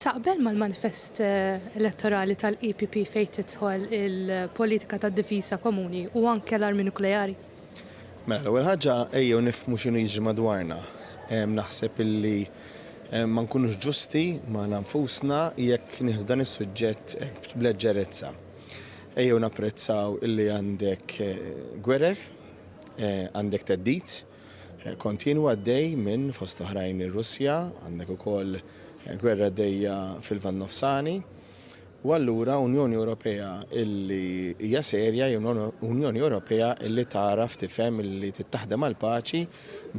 Taqbel mal-manifest elettorali tal-EPP fejn tidħol il-politika ta' difiża komuni u anke l-armi nukleari? Mela, l-ewwel ħaġa ejjew nifhmu x'inhu jiġri madwarna. Naħseb illi ma nkunux ġusti magħna nfusna jekk nieħdu dan is-suġġett hekk b'leġġerezza. Ejjew napprezzaw illi għandek gwerer, għandek theddid, kontinwu għaddej minn, fost oħrajn, ir-Russja, għandek ukoll gwerra għaddejja fil-Lvant Nofsani, u allura Unjoni Ewropea illi hija serja hi Unjoni Ewropea illi tagħraf tifhem illi tittaħdem għall-paċi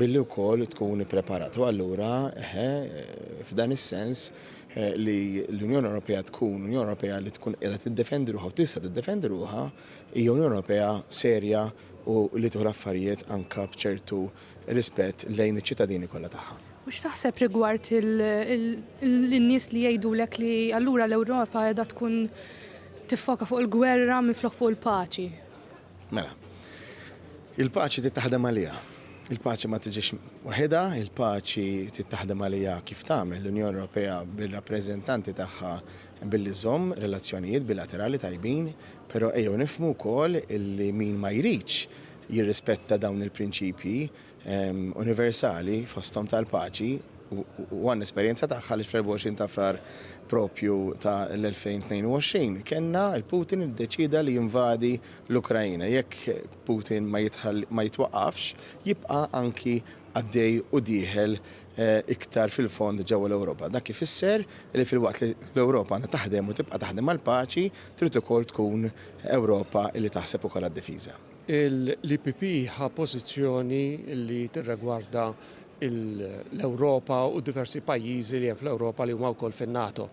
billi wkoll tkun ippreparat. U allura eħe, f'dan is-sens eh, li l-Unjoni Ewropea tkun Unjoni Ewropea li tkun qiegħda tiddefendi ruħha u tista' tiddefendi ruħha hija Unjoni Ewropea serja u li tieħu l-affarijiet anke b'ċertu rispett lejn iċ-ċittadini kollha tagħha. U x'taħseb rigward in-nies li jgħidulek li allura l-Ewropa qiegħda tkun tiffoka fuq il-gwerra minflok fuq il-paċi? Mela, il-paċi trid taħdem għaliha. Il-paċi ma tiġix waħedha, il-paċi trid taħdem għaliha kif tagħmel l-Unjoni Ewropea bir-rappreżentanti tagħha Billi żżomm relazzjonijiet bilaterali tajbin, però ejjew nifhmu wkoll illi min ma jridx jirrispetta dawn il-prinċipji universali fosthom tal-paċi u għandna esperjenza tagħha għaliex fl-24 ta' Frar proprju ta' l-2022 kellna l-Putin li ddeċieda li jinvadi l-Ukraina. Jekk Putin ma jitwaqqafx jibqa' anki għaddej u dieħel iktar fil-fond ġewwa l-Ewropa. Dak ifisser li filwaqt li l-Ewropa għandha taħdem u tibqa' taħdem għall-paċi, trid ukoll tkun Ewropa li taħseb ukoll għad-difiża. Il-EPP ħa pożizzjoni li tirregwarda l-Ewropa u d-diversi pajjiżi li hemm fl-Ewropa li huma wkoll fin-NATO.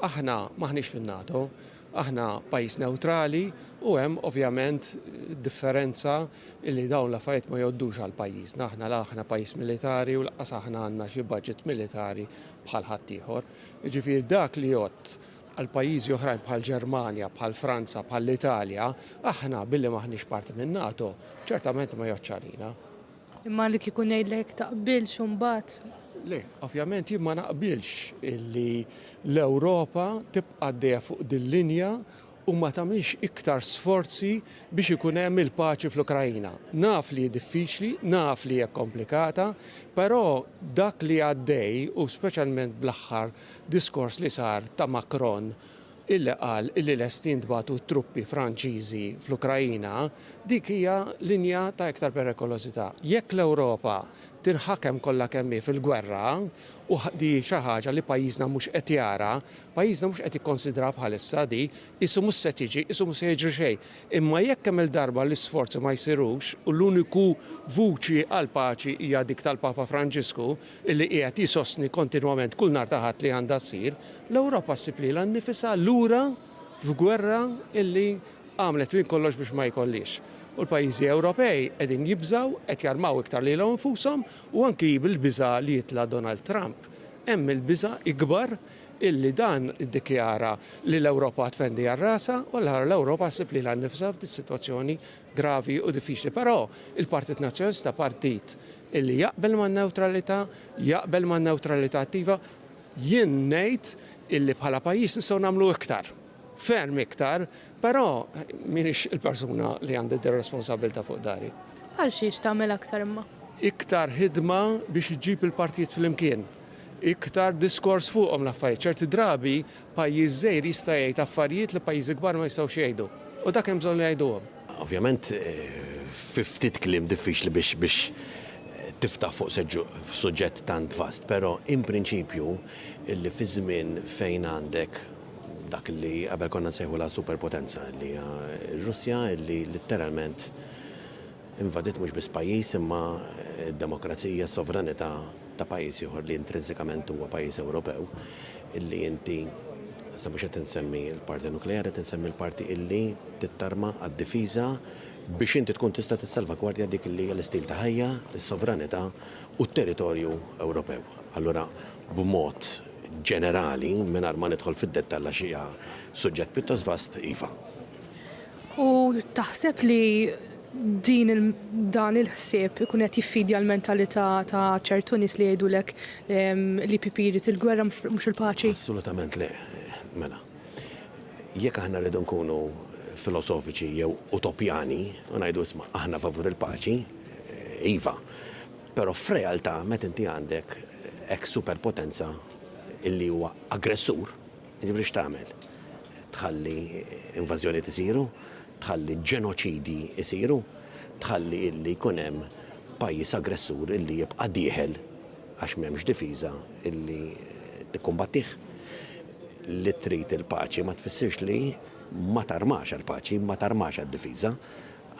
Aħna m'aħniex fin-NATO Aħna pajjiż newtrali u hemm ovvjament differenza li dawn l-affarijiet ma jgħoddux għal pajjiżna. Aħna la aħna pajjiż militari u laqas aħna għandna xi budget militari bħal ħaddieħor. Jiġifieri dak li jgħodd għal pajjiżi oħrajn bħal Ġermanja, bħal Franza, bħal Italja, aħna billi maħniex parti minn NATO, ċertament ma jgħoddx għalina. Imma li kieku ngħidlek taqbilx u mbagħad. Le, ovvjament jien ma naqbilx li l-Ewropa tibqa' għaddejja fuq dil-linja u ma tagħmilx iktar sforzi biex ikun hemm il-paċi fl-Ukraina. Naf li hi diffiċli, naf li hija komplikata, però dak li għaddej u speċjalment bl-aħħar diskors li sar ta' Macron illi qal illi lesti jintbagħtu t-truppi Franċiżi fl-Ukraina, dik hija linja ta' iktar perikolożità. Jekk l-Ewropa tinħakem kollha kemm hi fil-gwerra, u di hi xi ħaġa li pajjiżna mhux qed jara, pajjiżna mhux qed jikkonsidraha bħalissa di, qisu mhux se tiġi, qisu mhux se jiġri xejn. Imma jekk kemm-il darba l-isforzi ma jsirux u l-uniku vuċi għall-paċi hija dik tal-Papa Franġisku, li qiegħed jsostni kontinwament kull nhar ta' Ħadd li għandha ssir, l-Ewropa ssib lilha nnifisha lura f'gwerra li għamlet minn kollox biex ma jkollhiex. U l-pajjiżi Ewropej qegħdin jibżgħu, qed jarmaw iktar lilhom infushom u anki bil-biża' li jitla' Donald Trump hemm il-biża' ikbar li dan iddikjara li l-Ewropa tfendi għal rasha u allura l-Ewropa ssib lilha nnifisha f'dis-sitwazzjoni gravi u diffiċli. Però il-Partit Nazzjonalista partit Illi jaqbel man-newtralità, jaqbel man-newtralità attiva. Jien ngħid illi bħala pajjiż nistgħu nagħmlu iktar, ferm iktar, però m'iniex il-persuna li għandi d-responsabbiltà fuq dari. Bħal xiex tagħmel aktar imma? Iktar ħidma biex iġġib il-partijiet flimkien. Iktar diskors fuqhom l-affarijiet. Ċerti drabi Pajjiż żgħir jista' jgħid affarijiet li pajjiżi kbar ma jistgħux jgħidu. U dak hemm bżonn li jgħiduhom. Ovvjament fi ftit kliem diffiċli biex biex tiftaħ fuq seġġu suġġett tant vast, però in prinċipju li fi żmien fejn għandek dak illi qabel konna nsejħulha superpotenza illi hija r-Russja illi litteralment, Invadiet mhux biss pajjiż imma d-demokrazija, s-sovranità ta' pajjiż ieħor li intrinsikament huwa pajjiż Ewropew illi inti, sa mhux qed insemmi l-parti nukleari, qed insemmi l-parti illi tittarma għad-difiża biex inti tkun tista' tissalvagwardja dik illi hija l-istil ta' ħajja, is-sovranità u t-territorju Ewropew. Allura b'mod ġenerali, mingħajr ma nidħol fid-dettall għax hija suġġett pjuttost vast, iva. U taħseb li din il dan il-ħsieb ikun qed jiffidja l-mentalità ta' ċertu nies li jgħidulek l-EPP jrid il-gwerra mhux il-paċi? Assolutament le. Mela, jekk aħna rridu nkunu filosofiċi jew utopjani u ngħidu isma' aħna favur il-paċi, iva. Però f'realtà meta inti għandek hekk superpotenza illi huwa aggressur, Jiġifieri x'tagħmel? Tħalli invażjonijiet isiru, tħalli ġenoċidji jsiru, tħalli illi jkun hemm pajjiż aggressur illi jibqa' dieħel għax m'hemmx difiża illi tikkumbattih? Li trid il-paċi ma tfissirx li ma tarmax għall-paċi, ma tarmax għad-difiża.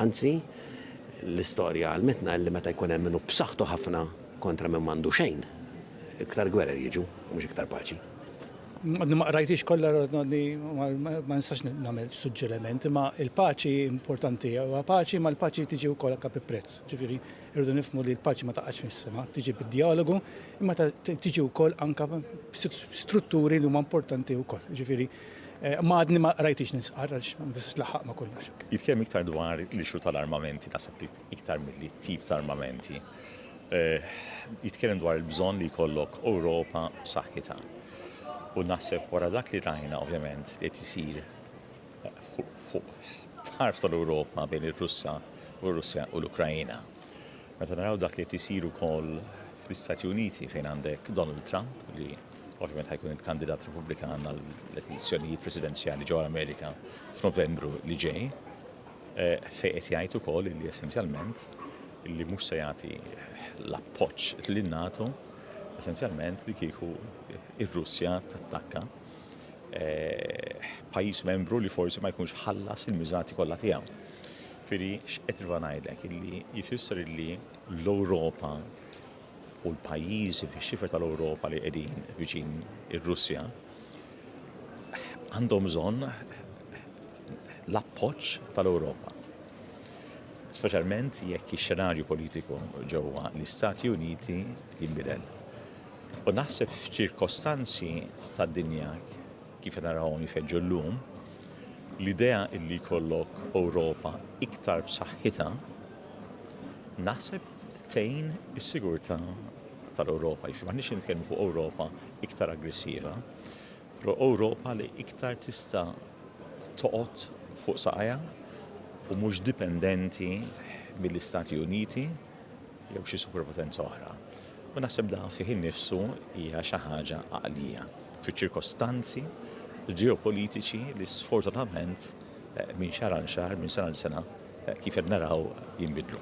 Anzi, l-istorja għallmitna illi meta jkun hemm min hu b'saħħtu ħafna kontra min m'għandu xejn, iktar gwerer jiġu u mhux iktar paċi. Għadni ma qrajtix kollha għadni ma nistax nagħmel suġġeriment, imma il-paċi importanti huwa paċi, ma l-paċi tiġi wkoll anke bi prezz. Ġifieri rridu nifhmu li l-paċi ma taqax mis-sema, tiġi bid-dialogu, imma tiġi wkoll anke strutturi li huma importanti wkoll. Ġifieri Eh, ma għadni ma rajtix nisqar għax ma tistax laħaq ma kollox. Jitkellem iktar dwar l-ixu tal-armamenti naħseb li iktar milli t-tip ta' armamenti, eh, jitkellem dwar il-bżonn li jkollok Ewropa b'saħħitha. U naħseb wara dak li rajna ovvjament li qed isir eh, fuq tarf tal-Ewropa bejn ir-Russa u r-Russja u l-Ukrajina. Meta naraw dak li qed isir ukoll fl-Istati Uniti fejn għandek Donald Trump li ovvjament ħajkun il-kandidat Repubblikan għall-elezzjonijiet presidenzjali ġewwa l-Amerika f'Novembru li ġej. Fejn qed jgħid ukoll li essenzjalment li mhux se jagħti l-appoġġ lin-NATO essenzjalment li kieku ir-Russja tattakka eh, pajjiż membru li forsi ma jkunx ħallas il-miżati kollha tiegħu. Firi x'qed ngħidlek illi jfisser illi l-Ewropa u l-pajjiżi fix-xifer tal-Ewropa li qegħdin viċin ir-Russja għandhom bżonn l-appoġġ tal-Ewropa. Speċjalment jekk ix-xenarju politiku ġewwa l-Istati Uniti jinbidel. U naħseb f'ċirkostanzi tad-dinja kif narawhom jfeġġu llum, l-idea illi jkollok Ewropa iktar b'saħħitha naħseb tgħin is-sigurtà tal-Ewropa, jiġifieri m'aħniex qed nitkellmu fuq Ewropa iktar aggressiva, però Ewropa li iktar tista' toqgħod fuq saqajha u mhux dipendenti mill-Istati Uniti jew xi superpotenza oħra. U naħseb dan fih innifsu hija xi ħaġa għaqlija fiċ-ċirkostanzi ġeopolitiċi li sfortunatament minn xahar għal xahar, minn sena għal sena, Kif qed naraw jinbidlu.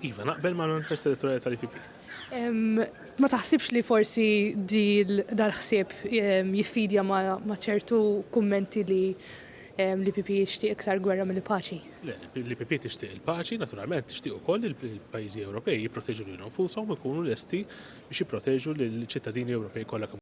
Iva, naqbel mal-manifest elettorali tal-IPP. Ma taħsibx li forsi dal-ħsieb jiffidja ma' ċertu kummenti li l-IPP jixtieq iktar gwerra mill paċi? L-IPP tixtieq il-paċi, naturalment tixtieq ukoll li l-pajjiżi Ewropej jipproteġu lilhom nfushom u jkunu lesti biex jipproteġu lill-ċittadini Ewropej kollha kemm